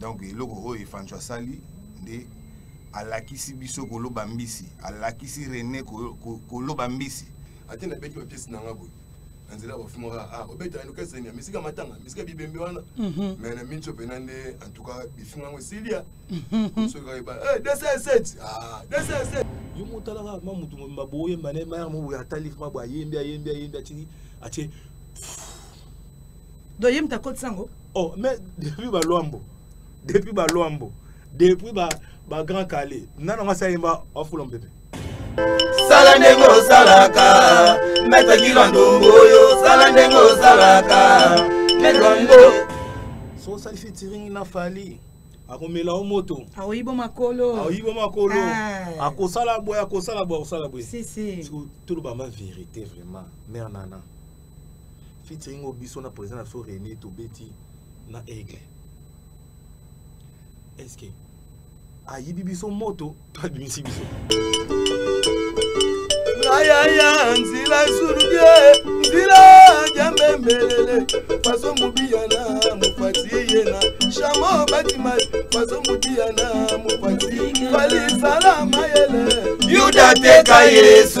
donc eloko oyo efanco asali nde alakisi biso koloba mbisi alakisi rene koloba mbisi ate nabeti bapiese na nga boye na nzela bafungaka a ah, obetaka ino kese ya misika matanga misika bibembe wana mhm. mais na minso mpena nde en tout cas bifinga yango esilia mhm. soki kakeba 207 207 eh, yo motalaka ma motu mobimba boyemba ne mayaka moboye atali ma boye ayembi ayembi ayembi atiki atie donc ye moto akotisa yango oh mais depuis balwambo depuis balwambo depuis ba, ba grand kale nano nga sayemba afula mbebe sala ndenge osalaka maitre kilo ndongo oyo sala ndenge osalaka maitre ngo so osali fitiringi na fali akomela o moto aoyibo makolo aoyibo makolo ah. akosala boye akosala boye akosala boye tolobama verité vraiment mare nana featuring oyo biso na président na biso rené tobeti na aigle est ce que ayibi biso moto to abimisi biso ayaya nzila esulubie nzila jambembelele faso mobiyana mopati yena shamo batima faso mobiyana mopati balisala mayele yuda teka yesu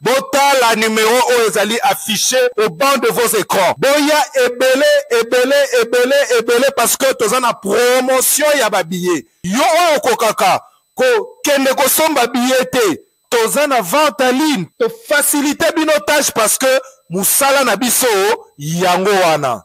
botala numero oyo ezali affiche au banc de vos écrans boya ebele ebele ebele ebele parce que toza na promotion ya babillet yo oyo okokaka kokende kosomba billet te toza na vente en ligne tofacilite bino tâche parce que mosala na biso yango wana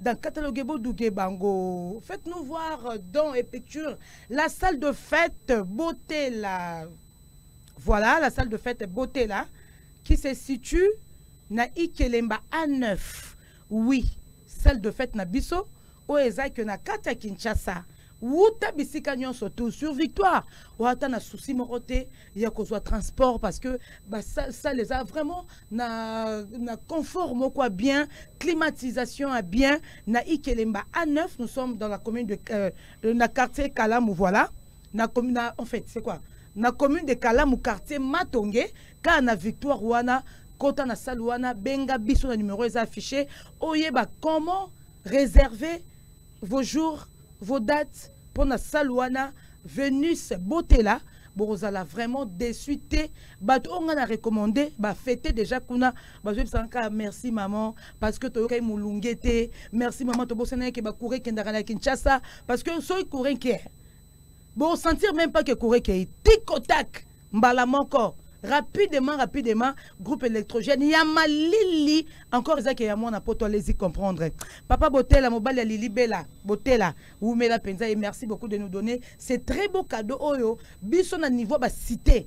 dans catalogue boduge bango faites nous voir euh, dans et picture la salle de fête beauté la voilà la salle de fête beauté là qui se situe na Ikelemba A9 oui salle de fête na biso o eza que na kata Kinshasa wuta bisika nyonso tout sur victoire wata na souci moko te ya kozwa transport parce que basale eza vraiment na, na confort moko ya bien climatisation ya bien na ikelemba a 9 nous sommes dans la commune de euh, na quartier kalamu voilà na, na, en fait c'est quoi na commune de kalamu quartier matonge kaa na victoire wana kota na sale wana benga biso na numero eza affiché oyeba comment réserver vos jours Vos dates mpo na salle wana Venus Botela bokozala vraiment déçu te bato oyo ngai na recommande bafete déjà kuna bazoyebisaka kaka merci maman parce que toyokaki molunge te merci maman tobosanaki ke bacoure ekendaka na kinshasa parce que soki coure nkee Bo sentir même pas que Corée Kei. Tic au tac. Mbala moko. Rapidement, rapidement, groupe électrogène. Ya malili. Encore Isaac et Yamon, poto, allez-y comprendre. Papa Botela, Mobali ya Lili Bella. Botela, Wumela Penza. Et merci beaucoup de nous donner ces très beaux cadeaux. Oyo, biso na niveau ba cité.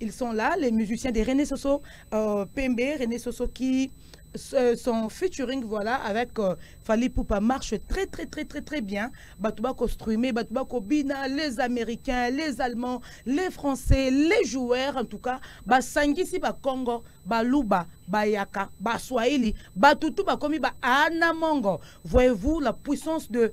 Ils sont là, les musiciens de René Soso euh, Pembe, René Soso qui euh, son featuring voilà avec euh, Fali Poupa marche très très très très très bien Batouba ko streamer Batouba ko bina les américains les allemands les français les joueurs en tout cas ba sangisi ba Congo ba Luba ba Yaka ba Swahili ba tutu ba komi ba Anamongo voyez-vous la puissance de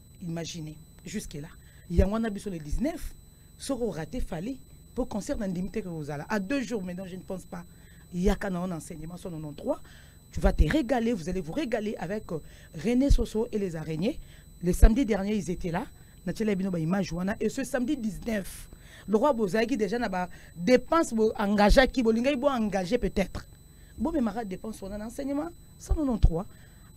imagine jusque là yango wana biso le 19 soki orate fali mpo concert na ndimi te kozala à deux jours maintenant je ne pense pas yaka na on enseignement 193 tu vas te régaler vous allez vous régaler avec euh, René Soso et les araignées le samedi dernier ils étaient là natiela bino baimage wana et ce samedi 19 lokola bozalaki déjà na badépense boengagaki bolingaki boengage peut-être bomemaka dépense wana na enseignement 193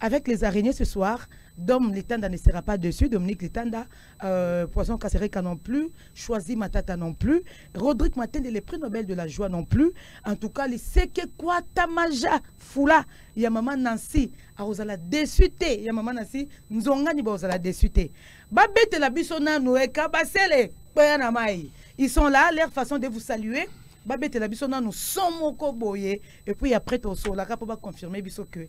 Avec les araignées ce soir, Dom Litanda ne sera pas dessus, Dominique Litanda, euh, Poisson Kassereka non plus, Choisi Matata non plus, Rodrigue Matende, les prix Nobel de la joie non plus. En tout cas, les Seke Kwatamaja Fula, ya maman Nancy, arozala dessus te, ya maman Nancy, Nzongani baozala dessus te. Babete la biso nanu eka eh, basele, koyana mai. Ils sont là, leur façon de vous saluer. babetela biso nanu son moko boye epuis après tosolaka mpo baconfirme biso ke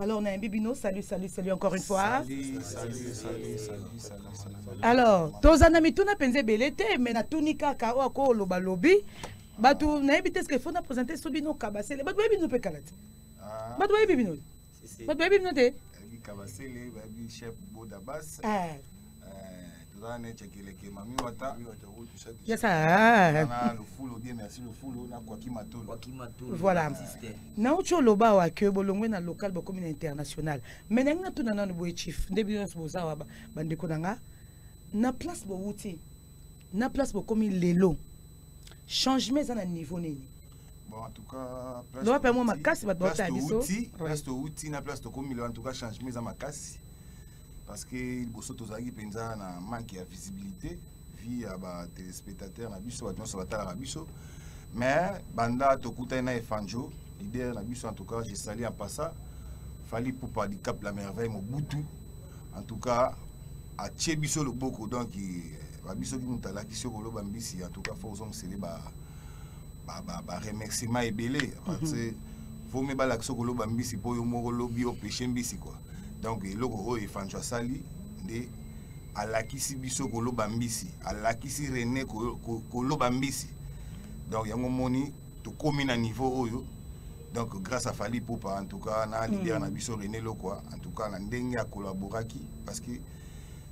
Alors, on a un bibino. Salut, salut, salut encore une fois. Salut, salut, salut, salut, salut. Alors, tozana mituna penze belete, mais na tuni kaka o ko loba lobi. Batu na ebite ce que faut na présenter so bino kabasele. Batu bino pe kalati. Ah. Batu bino. Batu bino te. Kabasele, babi chef Bodabas. Ah. toza neti akeleke mami wata yesa ah. lufulu bien merci lufulu na kwaki matulu kwaki matulu voilà nauti oloba awa ke bolongwe na local bokomi na international mais nangi natuna nanu boye chief nde bino nyonso boza awa bandeko na nga na place bowuti na place bokomi lelo changement eza na niveau nini loba mpe mwa makasi bato baotala biso place towuti na place tokomi lelo en tout cas changement eza makasi parce que liboso tozalaki mpenza na manque ya visibilité vie ya batelespectateur na biso bato nyonso batalaka biso mais banda tokutani na efanjo leader na biso en tout cas je sali en passa fali pupa du cap la merveille mobutu en tout cas atie biso loboko donc eh, babiso ki moto alakisi yo koloba mbisi en tout cas fo ozongisele ba baremerciement ebele mhm. parce vome balakisa okoloba mbisi mpo yo moko lobi opeshe mbisi kua donc eloko oyo efanco asali nde alakisi biso koloba mbisi alakisi rene koloba mbisi donc yango moni tokomi na niveau oyo donc grâce à fali popa en tout cas na leader mm. na biso rene lokwa en tout cas na ndenge akolaboraki parce que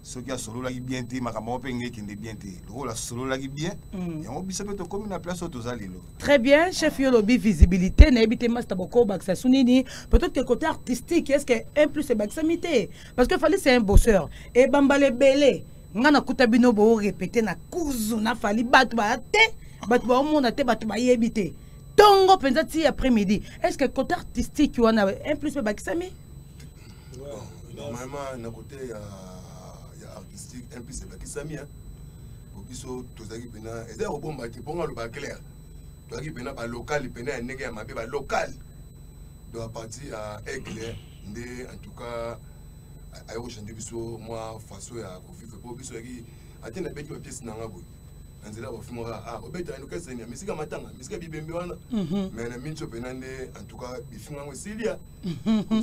soki asololaki bien te makambo yango mpe nge ekende bien te lokola asololaki bien mm. yango biso mpe tokómi na place oyo toza lelo très bien chef yo olobi visibilité nayebi te masta bokobakisa su nini peut-être que côté artistique est ce que un plus ebakisami te parce que fali c'est un bosseur ebambala ebele ngai nakuta bino boorepete na kuzu na fali bato baya te bato baomona te bato bayebi te ntongo mpenza ti après midi est ce que côté artistique wana un plus mpe ebakisami normalement na kote ya ya artistique un plus ebakisami po biso tozalaki mpena eza ya kobomba te mpo nga aloba claire tozalaki mpena balokale mpena ya ndenge ya mabe balokale donc apartir ya aigle nde en tout cas ayo kochange biso mwa façon ya kovivre mpo biso yaki ate nabeti bapiese na nga boye na nzela bafimaka ah obeta yango kesenia misika matanga misika bibembe wana mais na minso mpena nde en tout cas bifinga yango esilia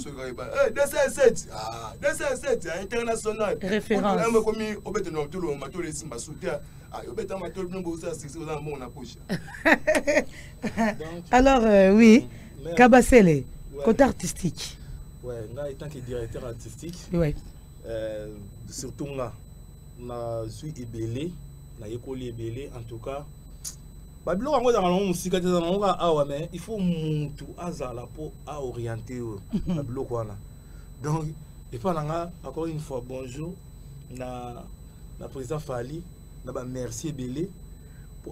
soki oyeba 207 207 international référence ekomi obeta na matolo matolo esimba soutien obeta matolo bino bozala sisi oza na mbongo na poche alors euh, oui kabasele côté artistique ouais nga étant que directeur artistique ouais euh, surtout nga nazwi ebele nayekoli ebele en tout cas babiloko yango ezalaka nango mosika te ezalaka nango kaka awa mais il faut mutu azala mpo aoriente oyo mhm. babiloko wana donc epai na nga encore une fois bonjour na, na président fali na bamerci ebele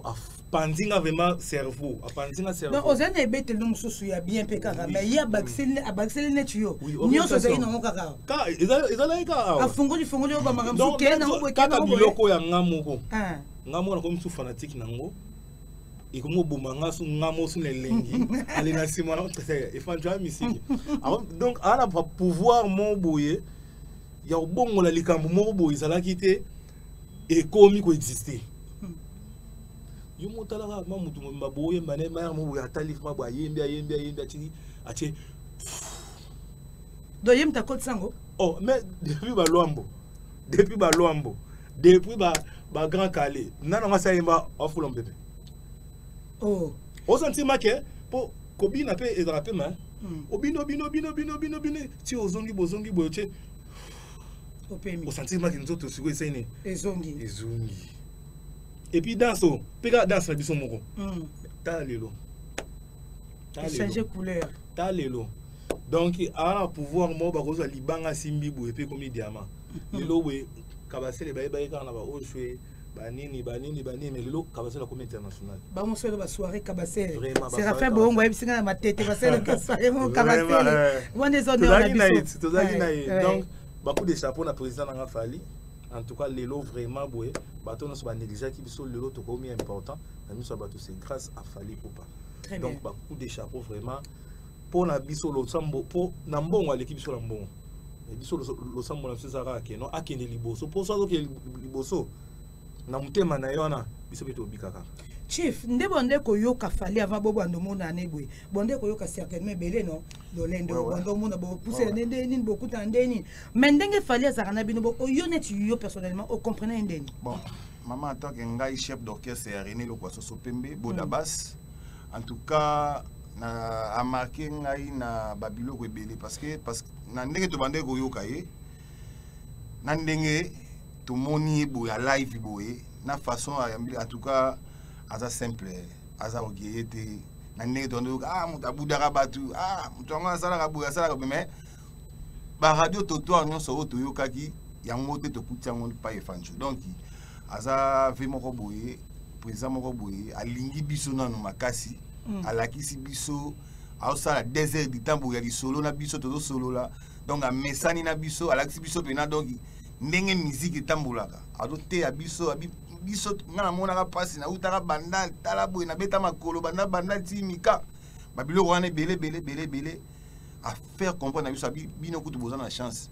apanzi nga vraiment cerveau apanzi nga cerveau oza na ebeteli no mosusu ya bien mpe kaka mais ye abakiseli neti yo nyonso ozali nango kaka ezalaki kaka afungoli fungoli yo bamakambo kee nango boye kaka biloko ya nga moko ah. nga mwana komi su fanatique na yango ekomi oboma nga su nga mo su na elengi ale na nsima na efandjo ya misiki donc aa na pouvoir mo boye ya kobongola likambo moko boye ezalaki te ekomi koexiste yo motalaka ma motu mobimba boyemba ne mayaka mo boye atali ma boye ayembi ayembi ayembi atiki atie doyembi takotisa yango oh mais depuis balwambo depuis ba luambo depuis ba ba grand calé nana nga sa yemba afula mbebe oh ozo ntima ke po kobina pe ezala pe ma hmm. obino bino bino bino bino bino ti ozongi bozongi boyo che opemi osantima ke nzoto siko eseni ezongi ezongi et puis danse o pe ka danse na biso moko hmm. ta lelo ta lelo changer couleur ta lelo donc aza na pouvoir moko bakozwa libanga asimbi boye mpe ekomi diama lelo boye kabasele bayebaki kaka na baoshwe banini banini banini mais lelo kabasele akomi international bamosolo basoire kabasele serafin boongo ayebisi ngai na matete basalaka soire moko kabasele eh. wana ezotozalaki na ye tozalaki na ye donc bacoup de chapeau na président nanga fali en tout cas lelo vraiment boye bato nyonso banegligeaki biso lelo tokomi important na miso ya bato c'est grâce à fali poupa donc bacoup de chapeau vraiment mpo na biso losambo mpo na mbongo aleki biso na mbongo eh, biso losambo na biso eza kaka keno akende liboso mpo so azokende liboso na motema na ye wana biso mpe tobika kaka chief nde bonde koyoka fali ava bo bando mona ne boye bonde koyoka certainement ebele no lolendo ouais, ouais. bando mona bopusela ouais, ouais. nde nini bokutana nde nini mais ndenge fali azalaka na bino bo oyo neti yo personnellement ocomprenai nde nini bon. Maman, en tant que ngai chef d'orchestre ya René Lokwasoso Pembe, Bodabas, mm. en tout cas, na a marqué ngai na babiloko ebele parce que parce que na ndenge tobandaki koyoka ye na ndenge tomoni ye boye ya live boye na façon ayambeli en tout cas aza simple aza orgueilleux te na ndenge tobandaki koyoka ah moto abudaka bato ah moto yango asalaka boye asalaka boye mais baradio totoire nyonso oyo toyokaki yango te tokuti yango pa efanjo donc aza ve moko boye président moko boye alingi biso nano makasi mm. alakisi biso aosala deux heures du temps boye ya lisolo na biso tozosolola donc amesani na biso alakisi biso mpena donc ndenge miziki etambolaka azoteya biso abi biso nga namonaka mpasi nautaka banda tala boye nabeta makolo banda banda ti mika babiloko wana ebele ebele ebele ebele a faire comprendre na biso abi bino kutu boza na chance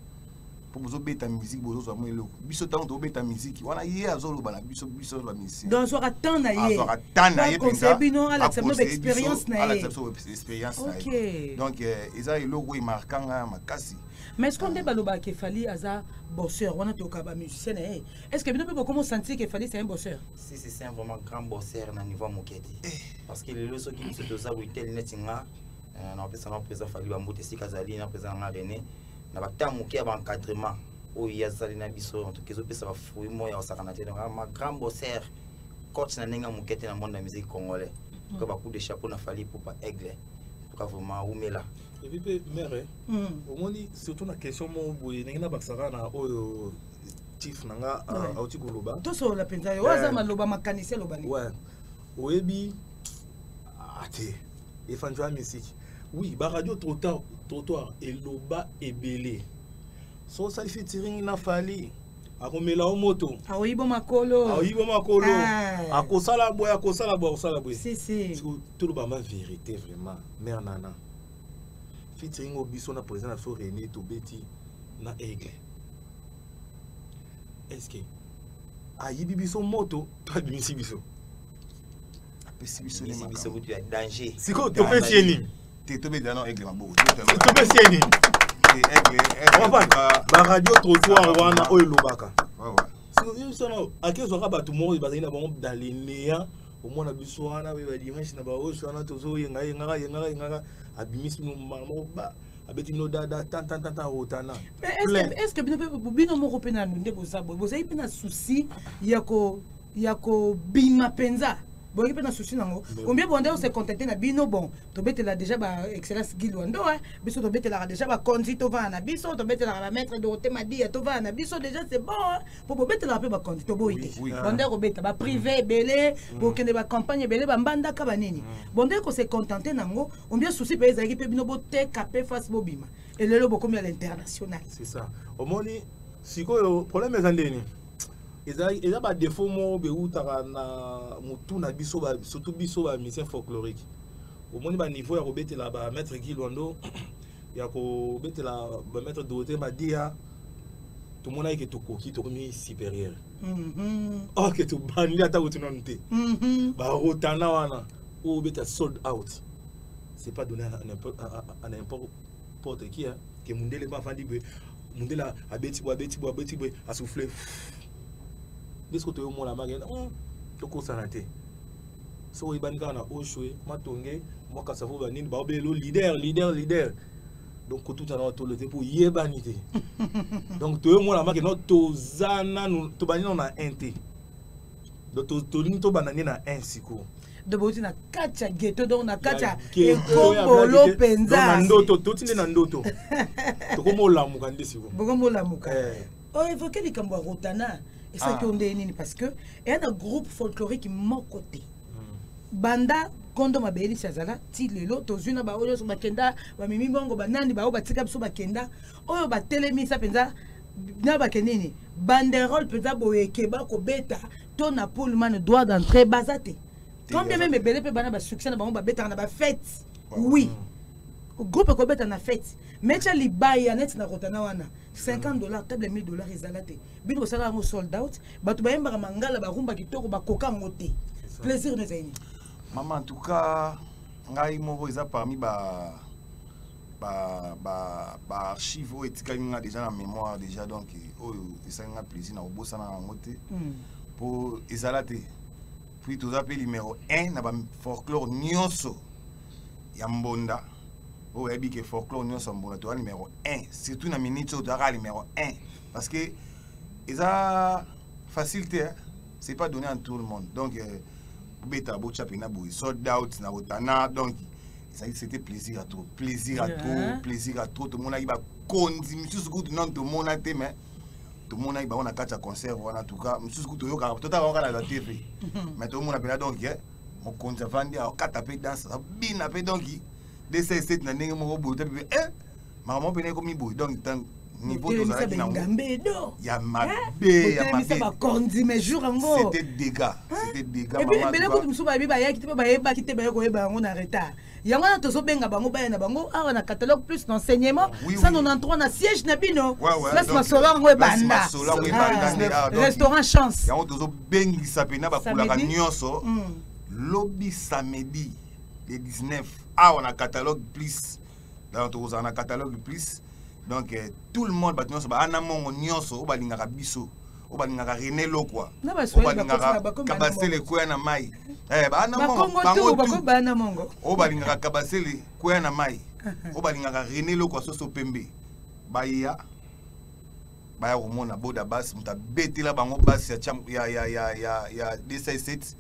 mpo bozobeta miziki bozozwa mwa eloko biso ntango tobeta miziki wana ye azoloba na biso biso azwa miziki donc azwaka temps na ye azwaka temps na ye mpenza bino alakisa bino baexpérience na ye alakisa biso expérience na ye donc euh, eza eloko oyo emarka nga makasi mais ce nde balobaka ke fali aza bosseur wana toyoka bamusicien na ye est ce que bino mpe bokoma osentir ke fali c'est un bosseur si si c'est un vraiment grand bosseur na niveau ya moke te eh. parce que lelo soki biso toza boitel neti nga eh, napesa nga président fali bambuta esika azali na président nanga rené na bata moke ya baencadrement oyo ye azali na biso en tout cas ezopesa bafruit moko ya kosakana te donc ma grand bosser coach na ndenge moke te na monde ya musique congolais mm. ka bacoup de chapeau na fali pupa aigle tuka vraiment umela ebi mpe mere eh? mm. omoni surtout na question moko boye ndenge nabakisaka na oyo chief na nga ah, auti koloba tosolola mpenza yo aza eh. maloba makanisi aloba nini oyebi ah te efanjo ya misiki oui baradio trottoir trottoir eloba ebele so osalisi tiringi na fali akomela o moto aoyibo makolo aoyibo makolo ah. akosala boye akosala boye akosala boye si, si. toloba ma vérité vraiment mère nana featuring oyo biso na président na biso rené tobeti na aigle est ce que ayibi biso moto to abimisi biso apesi biso nini biso kutu ya danger siko topesi ye nini te tobeda na aigle maboko topesi ye nini baradio trottoir wana oyo elobaka sono akezwaka bato moko bazali na bango dans le néant omona biso wana oyo badimanche na baosi wana tozoyenga yengaka yengaka yengaka abimisi mbala moko abeti bino dada tantantanta otana est ce que bino moko mpe nanu nde boza boye bozali mpe na souci ya ko ya kobima mpenza boyoki mpe na susi nango ombie bonde ose contacte na bino bon tobetela déjà ba excellence guy lwando biso tobetelaka déjà bakonzi tovanda na biso tobetelaka bamaître dorote madiya tovanda na biso déjà c'est bon mpo bobetelaka mpe bakonzi toboyi te bonde kobeta baprivé ebele mm. bokende bacampagne ebele bambandaka banini mm. bonde kose contente nango ombie susi mpe ezalaki mpe bino boteka mpe face bobima elelo bokomi ya l'international c'est ça omoni sikoyo problème eza ndeni eza ba défaut moko bewutaka na motu na biso surtout biso ba musicien folklorique omoni ba niveau ya kobetela ba maître guy lwando ya kobetela ba maître dorothée madia tomonaki ke tokoki tokomi supérieur mhm. or ke tobandi ata kutu nanu te mhm. barotana wana oyo obeta sold out c'est pas donné à n'importe Porte qui hein? Que Mundele ba fandi be. Mundele abeti bo abeti bo abeti bo a souffler. Bisko to yo mola mage. Hum. To ko sanate. So oui bani kana oshwe matonge moi kasavo ba nini ba obelo leader leader leader. donc kotuta na tolo te mpo oyebani te donc toyemonamaki no toza nanu tobandi nano na 1 te donc tolingi tobanda nde na 1 sikoyo donc bouti na kati ya geto donc na kati ya ekombolo mpenza na ndoto toti nde na ndoto tokomi olamuka nde sikoyo bokomi olamuka eh. oevoke oh, likambo ya rotana esalaki yo ah. ndenge nini parce que eya na groupe folklorique moko te hmm. banda kondo mabeyelisi azala ti lelo tozwi na baoyo nyonso bakenda bamemi bongo banani baoyo batika biso bakenda oyo batelemisa mpenza na bake nini banderole mpenza boye ekeba kobeta to na pullman droit d'entrée baza te combien meme ebele mpe bana basuccès na bango babetaka na bafete oui groupe ekobeta na fete metya libaya neti na kotana wana 50 dollars table 1000 dollars ezala te bino bosala yango sold out bato bayembaka mangala barumba kitoko bakoka yango te plaisir no ezali nini mama en tout cas ngai moko eza parmi ba ba ba ba archive oyo etikaki nga déjà na mémoire déjà donc oyo esali nga plaisir na kobosana na yango te hmm. po ezala te puis toza mpe numéro 1 na ba folklore nyonso ya mbonda oyo oyebi ke folklore nyonso ya mbonda toza numéro 1 surtout na minute oyo tozaka numéro 1 parce que eza facile te c'est pas donné à tout le monde donc euh, bobeta botya mpena boye sold out na otana donc ezali c'était plaisir à trop plaisir à trop plaisir à trop tomonaki bakonzi misusu kutu nano tomona te mais tomonaki bango na kati ya concert wana tuka mosusu kutu toyokaka totala bango kaka na tv mais tomona mpena donc eh, mokonzi avandi akata mpe danse abina mpe donc 2 na ndenge moko boye otabi mpe eh, makambo mpena ekomi boye donc ntango niveau tozalaki na yango ya mabe ya mabe bakonzi mais jour yango c'était dégâts c'était dégâts maman ebele kutu mosusu bayebi bayaki te mpe bayebaki te baye koyeba yango na retard yango wana tozobenga bango baya na bango awa na catalogue plus na enseignement 193 na siège na bino place masolo yango ebanda restaurant chance yango tozobengisa mpena bakulaka nyonso lobi samedi le 19 awa na catalogue plus donc tokozala na catalogue plus donc eh, tout le monde bato nyonso baana mongo nyonso oyo balingaka biso oyo balingaka rene lokwa oyo balingaka kabasele kwea na mai eh, baana mongo oyo balingaka kabasele kwea na mai oyo balingaka rene lokwa soso pembe baya baya komona boda bas moto abetela bango bas ya, ya, ya, ya, ya, ya d7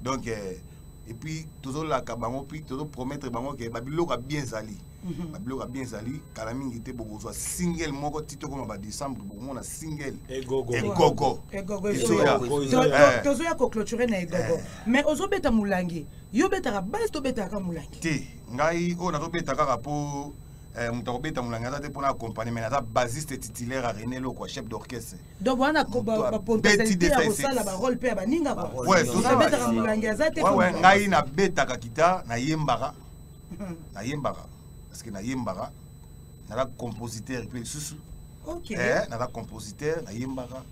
donc eh, epuis tozolaka bango puis tozopromettre bango ke babiloko ya bien ezali mhm. babiloko ya bien ezali kala mingi te bokozwa single moko ti tokoma badecembre bokomona single egogo tozoya koclôture na egogo eh. mais ozobeta molangi yo obetaka base tobetaka molangi te ngai oyo nazobeta kaka mpo Eh, moto akobeta molangi aza te mpona accompagne mai aza basiste titulaire ya rené lokwa chef d'orchestre donc wana bapontesalité ya kosala barole mpe ya baninga abetaka molangi aza te ngai nabetaka kita nayembaka nayembaka parce que nayembaka naza compositeur mpe lisusu eh, naza compositeur nayembaka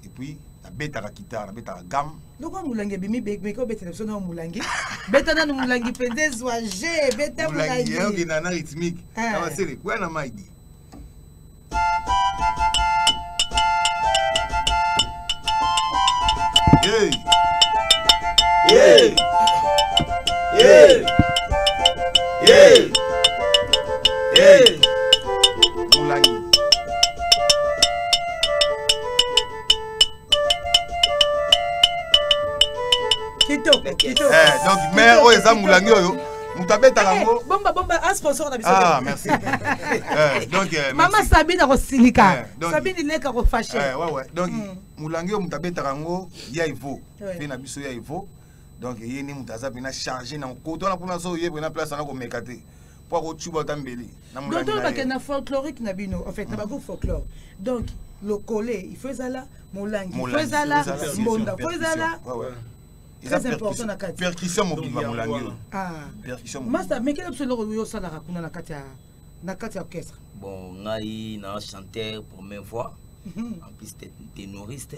et puis nabetaka guitare nabetaka gamme loko molangi ebimi meke obetela biso nao molangi beta nanu molangi mpenza ezwa je beta molangi okenda na rythmique eh. abasele kuya na maidi Hey! Hey! Hey! Hey! Hey! Eh, donc mère oyo eza molangi oyo moto abetaka eh, yango bomba bomba a sponsor na biso ah merci eh, donc eh, mama sabine akosilika sabine ileka kofashe ouais ouais donc hmm. molangi oyo moto abetaka yango ya evo mpe na biso ya evo donc ye nde moto aza mpena charge na nkoto wana mpona so ye mpena place ana komeka te po akocuba ata mbeli na molangi na ye. bakende na folklorique na bino en fait na bagroupe folklore donc lokole il faut ezala molangi il faut ezala mbonda il faut ezala très important na kati percussion mobimba molangi ah percussion masta mekela biso eloko oyo osalaka kuna na kati ya na kati ya orchestre bon ngai na chanteur première fois mhm. en plus tenoriste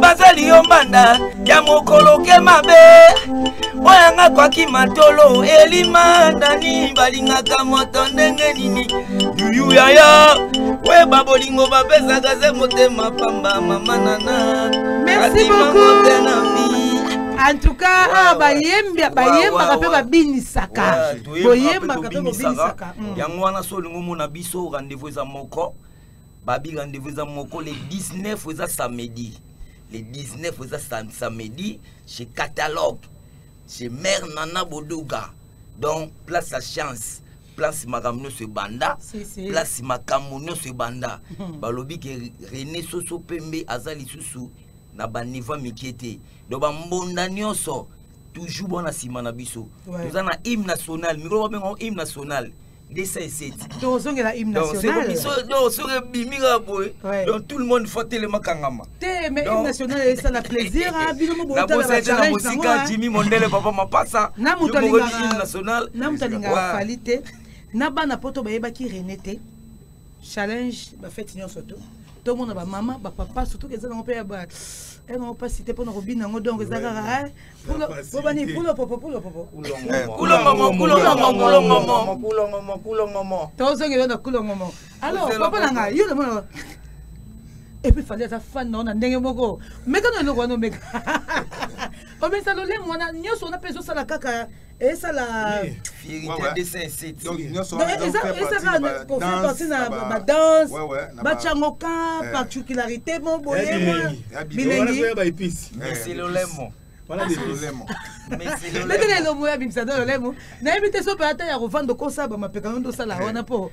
bazali yo mbanda ya mokolo ke mabe mpo yanga kwaki matolo elima nani balingaka moto ndenge nini yuyu yaya weba bolingo bapesaka ze motema pamba mama nana merci beaucoup en tout cas ah, bayemba bayembaka mpe babinisaka boyembaka mpe bobinisaka yango wana so olingi omona biso rendez-vous eza moko babi rendez-vous eza moko le 19 eza samedi le 19 eza samedi chez catalogue chez mère nana boduga donc place ya chance place makambo nyonso ebanda place makambo nyonso ebanda hmm. balobi ke rené soso pembe aza lisusu na banivo mike te donc bambonda nyonso toujours bwana nsima na biso toza na hymne national mikolo babenga hymne national ndesa eseti tozongela hymne national donc soki ebimi kaka boye donc tout le monde faut telema kangama te mais hymne national esala plaisir a bino mobootalabaete na mosika jimi mondele papa mapasa na moto alingaka fali te na bana poto bayebaki rene te challenge ba fête nyonso to tomona ba mama ba papa surtout eza nango mpe ya ba eza nango mpasi te mpona kobina yango donc eza kaka bobani pulopopo pulopopo tozongela na kulongomo alors papa na ngai yo namona epuis fali aza fan nao na ndenge moko meka na eloko wana omeka omesa lolemo wana nyonso wana mpe ezosala kaka esala ezaka kofe parti na badanse batya yango ka particularité mo boye bilengiolemo ndenge na elongo ya bimisa na lolemo nayebi te so mpe ata ya kovanda okosaba mapekano nde osala wana mpo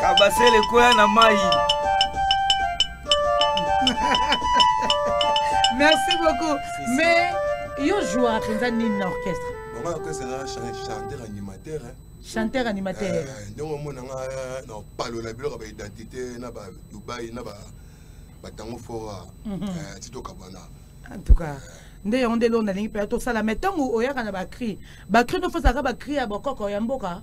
kabasele koya na mai merci beaucoup mais yo joueur mpenza nini na orchestre bango orchestre na chanteur animateur chanteur animateur eh, ndenge omona nga eh, na opalola biloko ba identité na ba dubai na ba batango fora mhm. eh, ti tokabwana en tout cas nde yango nde eloo nalingi mpe tosala mai ntango oyaka na bacri bacri nofosaka bacri ya bokoko ya mboka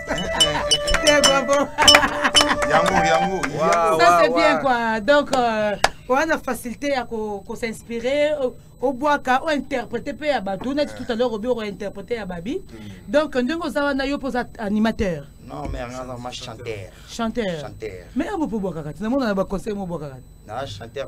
yango yango ça c'est bien quoi donc euh, oza na facilité ya kosinspire obwaka ointerprete mpe ya bato neti tout à l'heure obi okointerprete ya babi mm. donc ndenge oza wana yo mpo oza animateur non mais anga azama chanteur chanteur mais ya bopo obwakaka ti namona na baconseil mo obwakaka na chanteur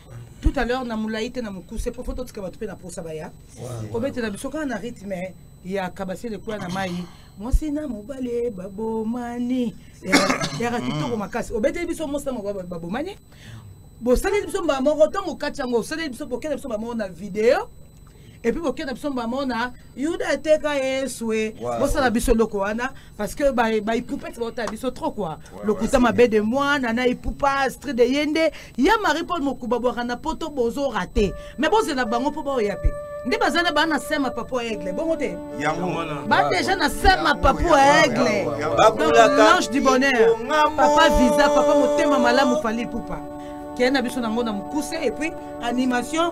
tout à l'heure na molai te na mokuse po fo totika bato mpe na posa baya kobetela biso kaka na rythme ya kabasi lekola na mai mwasi na mobali babomani yaka kitoko makasi obeteli biso mwasi na mobali babomani bosaleli biso mbala moko ntango okati yango osaleli biso bokela biso mbala moko na video epuis boke na biso bamona yuda ateka yesu e bosala biso eloko wana parce que baipupete baotala biso trop kua lokuta mabe de mwana na ipupa stri de ye nde ya marie paul mokuba bwaka na poto bozo rate mais bozela bango mpo baoya mpe nde baza na bana sema papo aigle bongo te ba deja na sema papo aigle l'ange du bonheur papa visa papa motema malamu fali pupa kende na biso nango na mokuse epuis animation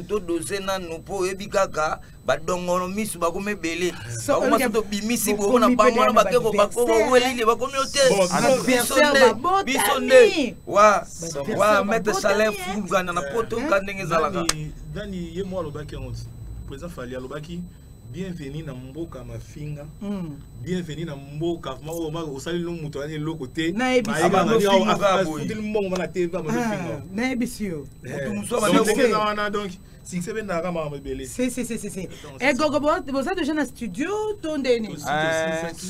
to doze nanu mpo oyebi kaka badongono misu bakoma ebele bakoma so tobimisi bongo na bango wana bakeko bakowelili bakomi yo te biso nde biso nde wa wa maitre salaire fulgana na poto ka ndenge ezalaka dani ye mwa alobaki yango président fali alobaki bienvenue na mboka mafinga mm. bienvenue na mboka osaleli no moto ayani eloko te mbongo mana te nayebisi yo wana donc succès mpe ndaka makambo ebele egogo boza deja na studio to ndeni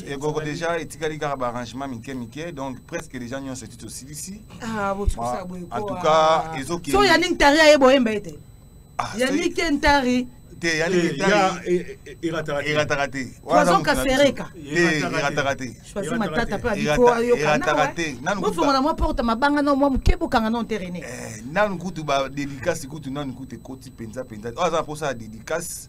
egogo deja etikali kaka baarrangement mike mike donc presque deja nyonso eti tosilisi en tout cas ezokende so ya nini tari aye boyemba ete Ah, Yannick Kentari. Te, Yannick Kentari. Erataka te. Poison Kasereka. Erataka te. Choisi matata pe abiko ayoka. Erataka te. Nanu kutu. Bofongola mwa porte mabanga na mwa mukebo kanga na terrain. Eh, nanu kutu ba dédicace kutu nanu kutu ekoti penza penza. Oza posa dédicace.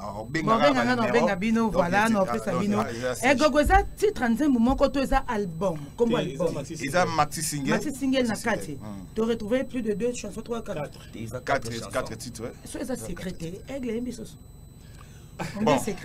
bobenga nga nabenga bino voilà naopesa bino egogo eza titre ya nzembo moko to eza album kombo albumeza maxi singel na kati hmm. to retrouve plus de deux chansons trois quatre titres so eza secret te aigle yembi soso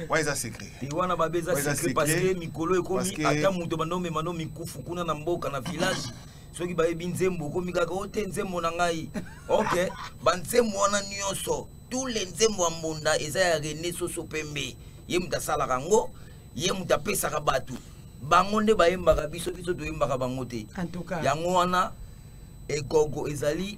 oyo eza secret te wana babe eza secret parce que mikolo ekomi ata moto banda omema no mikufu kuna na mboka na village soki bayebi nzembo okomi kaka ote nzembo na ngai ok banzembo wana nyonso tous les nzembo ya mbonda eza ya rene soso pembe ye moto asalaka yango ye moto apesaka bato bango nde bayembaka biso biso toyembaka bango te yango wana egogo ezali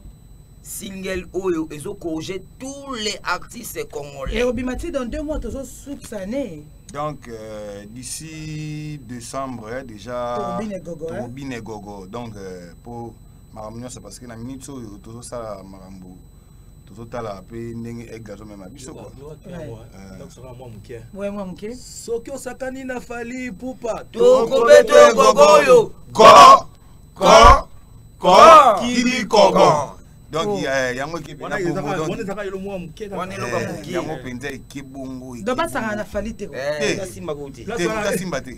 single oyo ezokorige tous les artistes congolais ekobima ti dans deux mois tozosukisa ne donc euh, d'ici décembre eh, déjà tobine gogo, eh? tobine gogo. donc euh, po makambo nyonso parce que na minute oyo tozosala makambo tozotala mpe ndenge aigle azomema biso eh. soki osakani na fali pupa tokobeto ekoko oyo ko ko ko kili koko donc oh. eh, yango ekebongoyango mpenza ekebongo basangana na fali te eh. te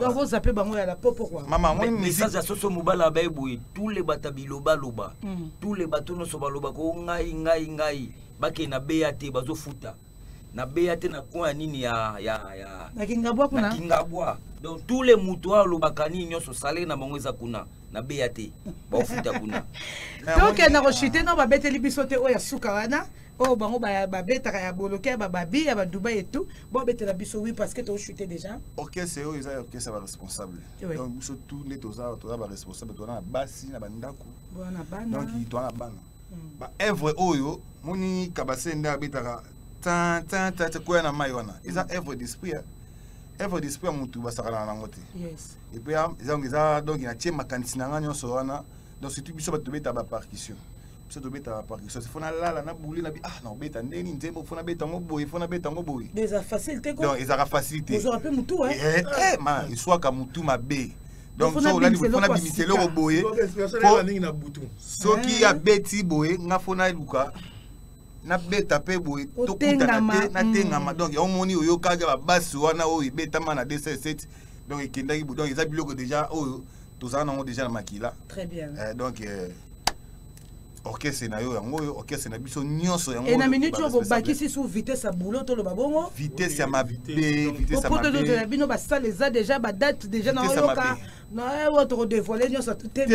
donc ozape bango ya la po pourquoi mama moi message ya soso mobala abaye boye tous les bata bilobaloba mm. tous les bato nyonso balobaka o oh, ngai ngai ngai bakei na beya te bazofuta na beya te na coin ya nini ya ya ya na kingabwa kuna na kingabwa donc tous les moto oyo alobaka nini nyonso salere na bango eza kuna na beya te baofuta kuna tokenda koshite no babeteli biso te oyo ya suka wana oyo bango babetaka ya boloke ya bababi ya badubai etout bobetela biso wi parce que toshute déjà orchestre oyo eza orchestre ya baresponsable donc biso tout nde toza toza baresponsable toza na basi na bandako donc toza na bana hmm. baevre oyo moni kabase nde abetaka koya na mai wana eza hmm. evre d'esprit hein. evre d'esprit ya motu basakanaka nango te epuis eza donc natie makanisi na ngai nyonso wana donc surtout biso bato tobeta bapartition biso tobetaka parkisose fo nalala na bule na bi ah naobeta ndeni nzembo fo nabeta yango boye fo nabeta yango boye eza facile te donc ezaka facile te ozwaka mpe motu eh, eh, eh, ma eswaka motu mabe donc so olali fo nabimisa eloko boye soki abeti boye nga fo naluka nabeta mpe boye tokutana te natengama mm. donc yango omoni oyokaki babasi wana oyo ebetama na 207 donc ekendaki donc eza biloko déjà oyo tozala nango déjà na makila très bien eh, donc eh, orchestre na yo yango oyo orchestre na biso nyonso yango et na minute oyo bobakisi sous vitesse ya boulot toloba bongo vitesse ya mabe vitesse ya mabe poto na bino basala eza déjà ba date déjà na oyoka na oyo tokodevoile nyonso te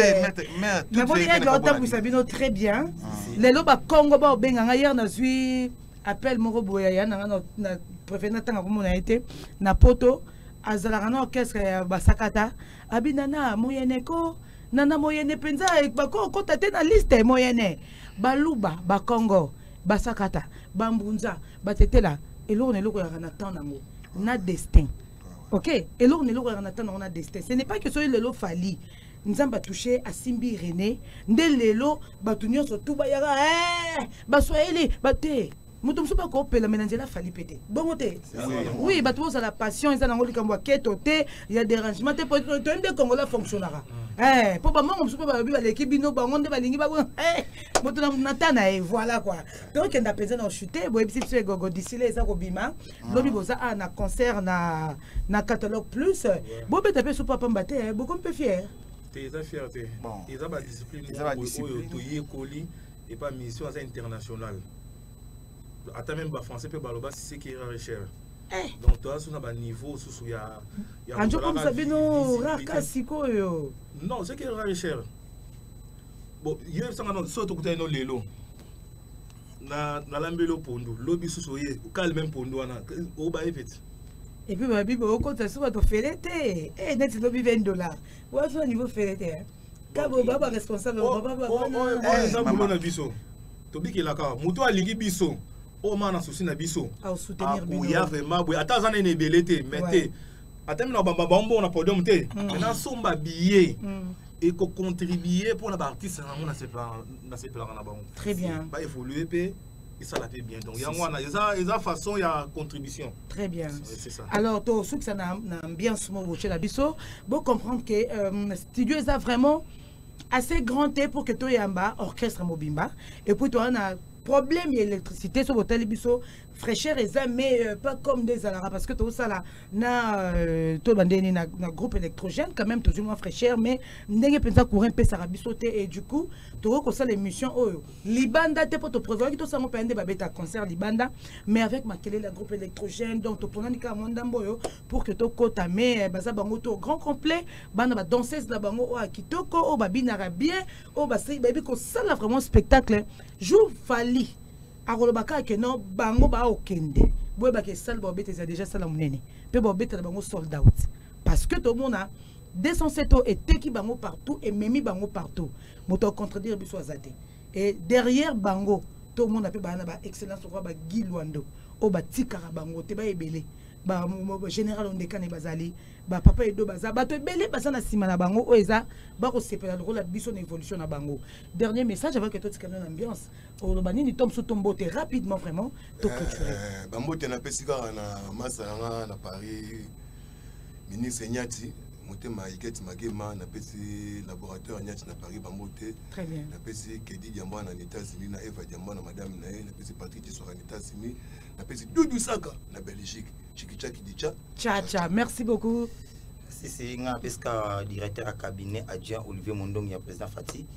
mais boni aigle otambwisa bino très bien ah. lelo bakongo baobenga ngai hier nazwi appel moko boye ya yaya na ngai na préfère natanga komona ye te na poto azalaka na orchestre ya basakata abinana moyeneko na na moyene mpenza bakokota te na liste moyene baluba bakongo basakata bambunza batetela eloko na eloko yaka na temps nango na destin ok eloko na eloko yaka na temps nango na destin ce n'est pas que soki lelo fali nzambe atouche asimbi rene nde lelo bato nyonso tu bayaka eh, baswahili bate moto mosusu bakopela me na nzela fali mpe te bongo te oui bato bozala passion eza nango likambo ya keto te ya dérangement te toyebi nde kongola fonctionnaka mpo eh, bamongo mosusu mpe balobi baleki bino bango nde balingi ba eh, moto na ta na ye voilà koi tokenda mpenza na ochute boyebisi biso egogo disile eza kobima ah. lobi boza a na concert na, na catalogue plus bobeta mpe supa pamba te eh, bokomi mpe fiere te eza fiere te eza badiscipline oyo toyekoli et pas mission aza international ata même ba français pe baloba c'est qui rare cher eh. donc toi sous na ba niveau sous sous ya ya anjo comme ça bino rare ka sikoyo non c'est qui rare cher bon yo sanga non so to kutana no lelo na na lambelo pondo lobi sous oye calme même pondo wana o ba epeti epuis babibi okota so bato fele te e neti lobi 20 dollar wazo niveau fele te kabo baba responsable oh, baba baba oh, oh, eh, eza bulo na biso tobikelaka moto alingi biso oyo maa na susi na biso akoya vraiment boye ata aza nene ebele te mais te ata mina bamba bambongo na podium te mm. nasomba billet mm. ekocontribue mpo na baartiste na yango nasepelaka na bango baevolue mpe esala mpe bien donc yango wana eza eza façon ya contribution très bien alors tosukisa na, na ambiance mo botyela biso bocomprendre ke euh, studio eza vraiment assez grand te pour que toyamba orchestre mobimba et puis toa na problème ya électricité soki botali biso fraîcheur eza mais euh, pas comme nde ezalaka parce que tozosala na euh, toloba nde nini na, na groupe électrogène quand même tozwi mwa fraîcheur mais ndenge mpenza courant epesaka biso te et du coup tokoki kosala émission oyo libanda te mpo toprevoyaki tosango mpenza nde babeta concert libanda mais avec makelele ya groupe électrogène donc toponani kaka mwa ndambo oyo pour que tokɔta mais eh, baza bango to grand complet bana badanseuse na bango oyo ya kitoko oyo babinaka bien oyo basei bayebi kosala vraiment spectacle jour fali akoloba kaka ke non bango baokende boyebaka esale baobeta eza déjà sala monene mpe baobetela bango sold out parce que tomona 207 oyo eteki bango partout ememi bango partout moto acontredire biso aza te e derrière bango tomona mpe baa na ba excellence okoa bagi lwando oyo batikaka bango te baebele bagénéral ondekani bazali bapapa edo baza bato ebele baza na nsima na bango oyo eza bakosepela lokola biso na évolution na bango dernier message avake totikana na ambiance oloba nini to mosusu tombote rapidement vraiment toclture eh, bambote napesi kaka na masa na nga na paris ministre nyati motema iketi magema napesi laboratoire nyati na paris bambote napesi kedi diamba na états-unis na eva diamba na madame na ye napesi patrik tisora na états-unis napesi dudu saka na belgique chikichaki dicha chacha merci beaucoup sisi nga apesi ka directeur ya cabinet adjoint olivier mondongi ya président fati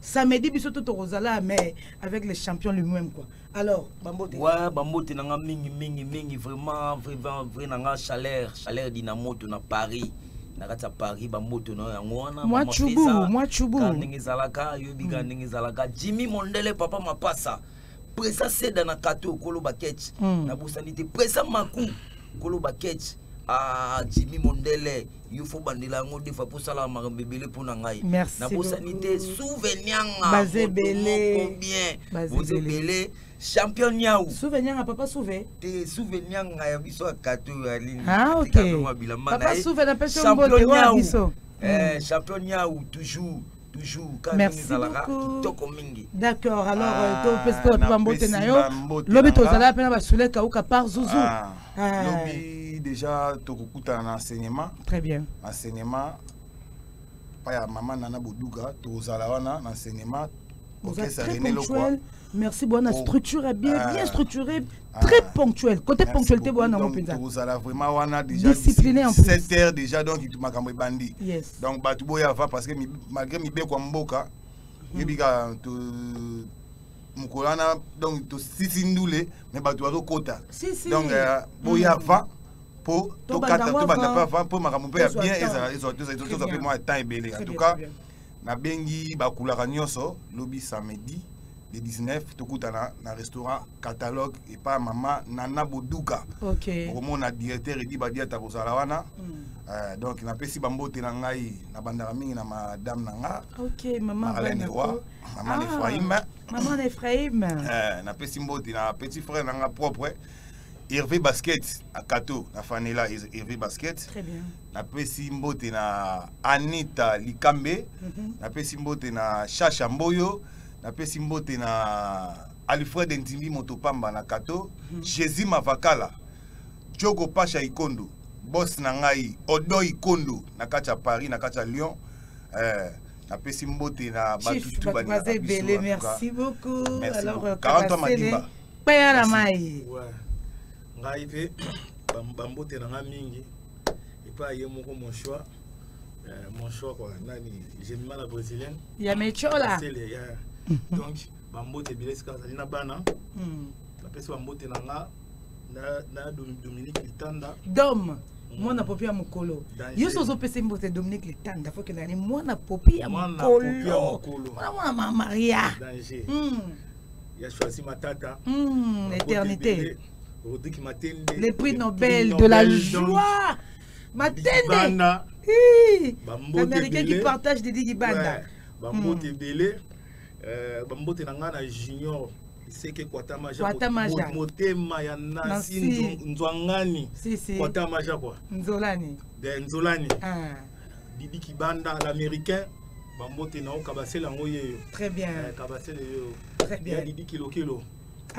samedi biso to tokozala mais avec les champions le même quoi alors bambote ouais bambote na nga mingi mingi mingi vraiment vraiment vrai na nga chaleur chaleur dina moto na paris na kati ya paris bamboto na yango wana mwa chubu mwa chubu ndenge ezalaka yobi ka mm. ndenge ezalaka jimmy mondele papa mapasa presa seda na kato okolo baketch mm. nabosani te presa maku okolo baketch ah, jimmy mondele yo fo bandela yango defa mpo osalaka makambo ebele mpo na ngai nabosani te souvenianga moko bien boza ebele champion niau souvenianga papa souve te souvenianga ya biso ya kato oyo alinibilamba na ye champion niau champion niau toujours toujours merci kitoko mingi d'accord alors ah, topesi mpe bape bambote na yo lobi tozalaka mpe na basule kauka par zuzu ah, ah. lobi déjà tokokutana na enseignement très bien enseignement pa ya mama nana boduga tozala wana na enseignement orchestre rené lokwa merci bwana oh. structure ya bien ah. bien structuré ah. très ponctuel côté ponctualité bwana yango mpenza tozala vraiment wana déjà discipliné en plus 7 heures déjà donc makambo ebandi yes. donc bato boya va parce que malgré mibeko ya mboka hmm. yebika mokolo wana donc tosisi ndule mais bato bazokota donc euh, boya va hmm. mpo tokata tobanda mpe avant mpo makambo mpe ya bien ezala ezala tozala mpe mwa temps ebele en tout cas nabengi bakulaka nyonso lobi samedi le 19 tokutana na restaurant catalogue epa mama nana boduka okay. okomona directeur edi badiata kozala wana mm. uh, donc napesi bambote na ngai nabandaka mingi na madame na nga okay, marlene wa mama ah, efraime mama na efraime uh, eh, napesi mbote na petit frère na nga propre Hervé Basket à Kato, na Fanela Hervé Basket. Très bien. napesi mbote na anita likambe mm -hmm. napesi mbote na shasha mboyo napesi mbote na alfred ndimi moto pamba na kato mm -hmm. jésus mavakala jogo pasha ikondo bos na ngai odo ikondo na kati ya paris na kati ya lyon eh, napesi mbote na batutu baza ebele merci beaucoup alors 40 ans madimba peya na mai ngai mpe bambote na ngai mingi epa ye moko mon choix euh, mon choix quoi nani gemima la brésilienne ya mechola donc bambote ebele esika azali na bana hmm. napesi bambote na nga na dominique litanda dome hmm. mwana popi ya mokolo nyonso ozopesa mbote dominique litanda fo kendani mwana popi ya mokolo mwana mamaria ya choisi matata eternité Rodrigue Matende. Le prix Nobel, Nobel de la joie. Matende. L'américain qui partage des Digibanda. Bambote ebele. Bambote na nga na junior seke kwatamaja kwatamaja motema ya nasi nzwangani si, si. kwatamaja kwa nzolani de nzolani ah. bibi kibanda l'américain bambote na yo kabasele yango yeyo très bien eh, kabasele yeyo très bien ya bibi kilokilo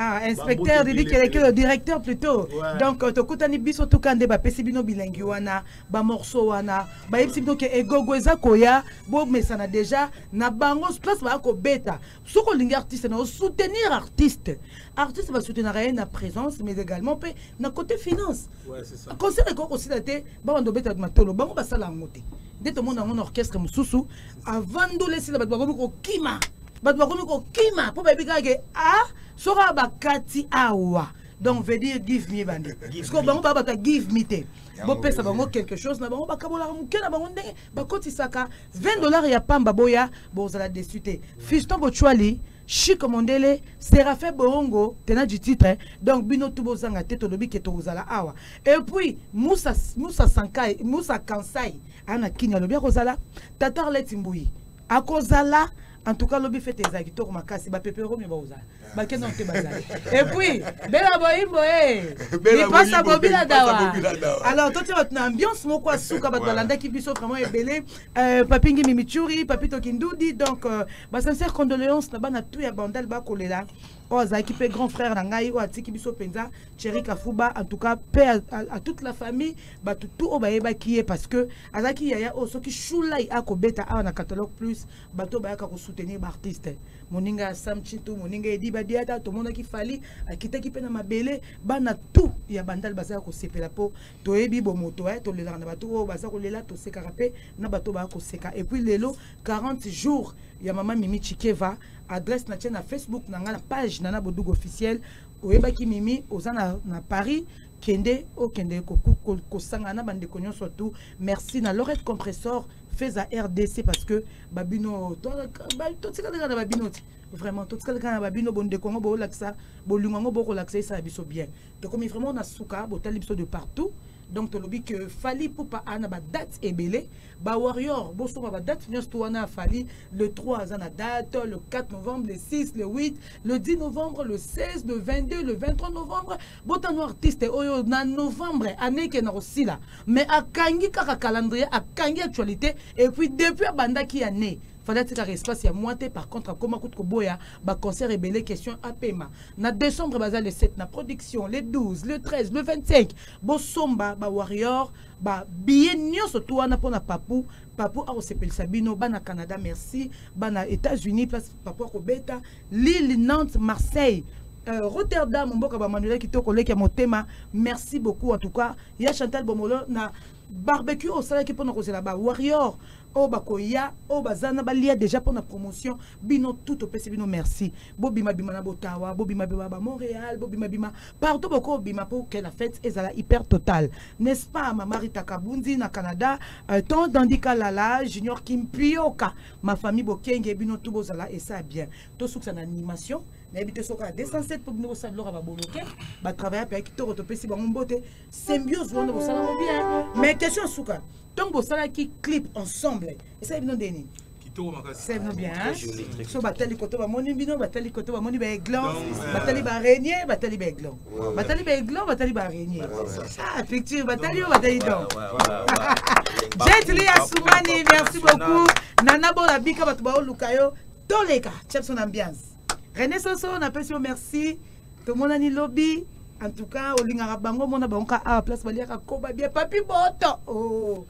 Ah, inspecteur Didi Kelekelo, directeur plutôt. Ouais. Donc, euh, tokutani biso tukande ba pesi bino bilingi wana, ba morceaux wana, ba yebisi bino ke egogo eza koya, bo mesana déjà na bango place ba ko beta. Soko lingi artiste na soutenir artiste. Artiste ba soutenir rien na présence mais également pe na côté finance. Ouais, c'est ça. Concert ko aussi daté, ba bando beta matolo, bango ba sala ngote. Nde tomona ngo na orchestre mususu, avandolesi na bato bakomi kokima. bato bakomi kokima mpo bayebi kaka ke a ah, soki awa bakati awa donc veut dire give me bande siko bango baa bato ya give me te bopesa bango quelque chose na bango bakabolaka moke na bango ndenge bakotisaka 20 dollars ya pamba boya bozala desu te fiston bochwali chic mondele séraphin boongo tena du titre eh. donc bino tu bozanga te tolobi ke tokozala awa et puis musa, musa, sankai, musa kansai ana kini alobi akozala tatar leti mbuyi akozala en tout cas lobi fete ezalaki toko makasi bapepe romi bakozala bakenda mpe bazali epuis bela boyimbo e lipasa bobila dawa alors totia bato na ambiance moko asuka bato balandaki biso vraiment ebele euh, papi ngimi michuri papi tokindudi donc euh, basincère condoléance na bana tout ya bandal bakolela oyo azalaki mpe grand frère na ngai oyo atiki biso mpenza cheri kafuba en tout cas mpe à toute la famille bato tout oyo bayebaki ye parce que azalaki yaya oyo oh, soki shulai akobeta awa na catalogue plus bato bayaka kosoutenir baartiste moninga ya sam chintu moninga edi badiata tomonaki fali akitaki mpe na mabele bana tout ya bandal bazala kosepela mpo toyebi bomoto eh, tolelaka na bato oyo oh, baza kolela tosekaka mpe na bato baya koseka epuis lelo 40 jours ya mama mimi chikeva adresse na tie na facebook na ngai na page nana bodugu officiel oyebaki mimi oza na, na paris kende okende kosangana na bandeko nyonso tu merci na lorette compressor feza rdc parce que babino totikalaka na babino ti vraiment totikalaka na babino bondeko yango boolakisa bolingo yango bokolakisa esala biso bien tokomi vraiment na suka botali biso de partout donc tolobi que fali pupa ana badate ebele bawarrior bosomba badate nyonso to wana ya fali le 3 aza na date le 4 novembre le 6 le 8 le 10 novembre le 16 le 22 le 23 novembre botano artiste oyo na novembre année ekenda kosila mais akangi kaka calendrier akangi actualité et puis depuis abandaki ya ne fallait atikaka espace ya mwa te par contre akoma kutu koboya baconcert ebele question apema na décembre baza le 7 na production le 12 le 13 le 25 bosomba bawarrior babiye nyonso to wana mpo na papu papu akosepelisa bino bana canada merci bana états-unis place papu akobeta Lille, Nantes, Marseille, euh, Rotterdam, Mboka Bamanuela Kitoko Leki Motema. Merci beaucoup en tout cas. Ya Chantal Bomolo na barbecue au salaire qui peut nous causer là-bas. Warrior, oh bakoya, oh bazana balia déjà pour la promotion. Bino tout au PC, bino merci. Bobby Mabima na Botawa, Bobby Mabima ba Montréal, Bobby Mabima partout beaucoup Bima pour que la fête est la hyper totale. N'est-ce pas, ma Marita Kabundi na Canada, euh, tant d'Andika Lala, Junior Kimpioka. ma famille bokenge bino tout bozala esa bien tosukisa na animation nayebi te soki ya 207 mpo bino kosala biloko ya baboloke batravaille mpe ya kitoko topesi bango mbote symbiose wana bosalamo bien mais question ya suka ntango bosalaki clip ensemble esali bino nde nini kitoko makasi c'est bien hein so batali koto bamoni bino batali koto bamoni ba aiglon batali ba renier batali ba aiglon batali baiglo batali barenye ah, picture batali yo batali don jetli ya sumani merci beaucoup nana bola bika bato baoluka yo toleka chapson ambiance rene soso napesi yo merci tomonani lobi en tout cas olingaka bango omona bango ka awa place baliaka koba bia papi boto oh.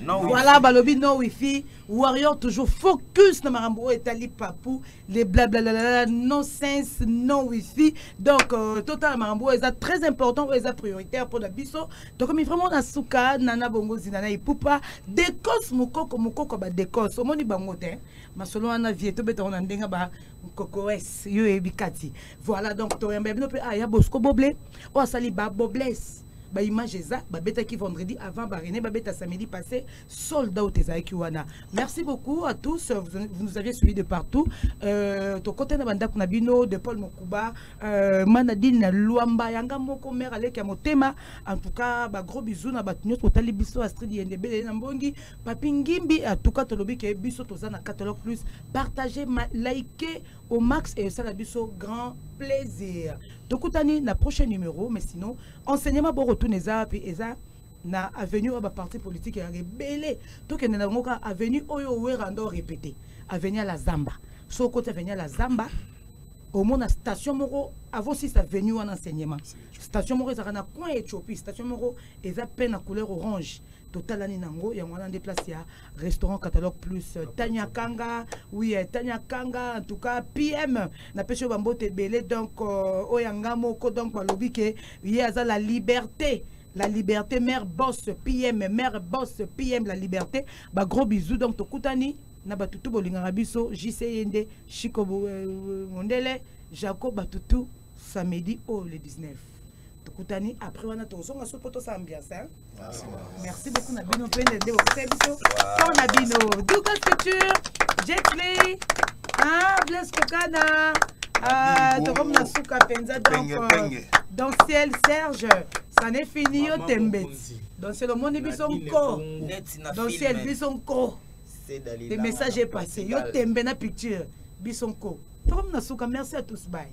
No voilà balobi no wifi warrior toujours focus na makambo oyo etali papu le blablalalala no sense no wifi donc euh, totala makambo oyo eza très important oyo eza prioritaire mpo na biso tokomi vraiment na suka na na bongo zina na ipupa decos mokoko mokoko badecos omoni bango te masolo wana vie tobetango na ndenge ba kokoes yo oyebi kati voilà donc toyamba ya bino mpe aya ah, bosco boble oyo asali babobles ba image eza babetaki vendredi avant ba René babeta samedi passé sold out ezalaki wana merci beaucoup à tous vous, vous nous avez suivi de partout euh, tokota na bandako na bino de Paul Mokuba euh, Manadine na Luamba yanga moko mère aleki ya motema en tout cas ba gros bisous na bato nyonso totali biso Astrid Yendebele na Mbongi Papi Ngimbi en tout cas tolobi ke biso toza na catalogue plus partagez likez au max et ça la biso grand plaisir tokutani na prochain numéro mais sinon enseignement boko tuna eza wapi eza na avenue oyo baparti politique ya ebele tokende na yango kaka avenue oyo owera ndo répété avenue ya la zamba so okoti avenue ya la zamba omona station moko avant si ça venu en enseignement station moko ezalaka na coin ethiopie station moko eza pe na couleur orange totalani nango yango wana nde place ya restaurant catalogue plus euh, tanya kanga oui euh, tanya kanga en tout cas pm napesi yo bambote ebele donc euh, oyo yanga moko donc balobi ke ye aza la liberté la liberté mère boss pm mère boss pm la liberté ba gros bisous donc tokutani na batutu bolingaka biso jc ye nde chiko mondele jacob batutu samedi oyo le 19 tokutani après wana tozonga so mpo tosala ambiance hein? Ah, merci beaucoup na bino mpe nde nde bokosala biso mpo na bino duka culture jetly ah, blaise kokana ah, tokomi na suka mpenza donc euh, dans ciel serge ça n'est fini yo tembeti dans ciel omoni biso nko dans ciel biso nko le message est passé yo tembe na picture biso nko tokomi na suka merci à tous bye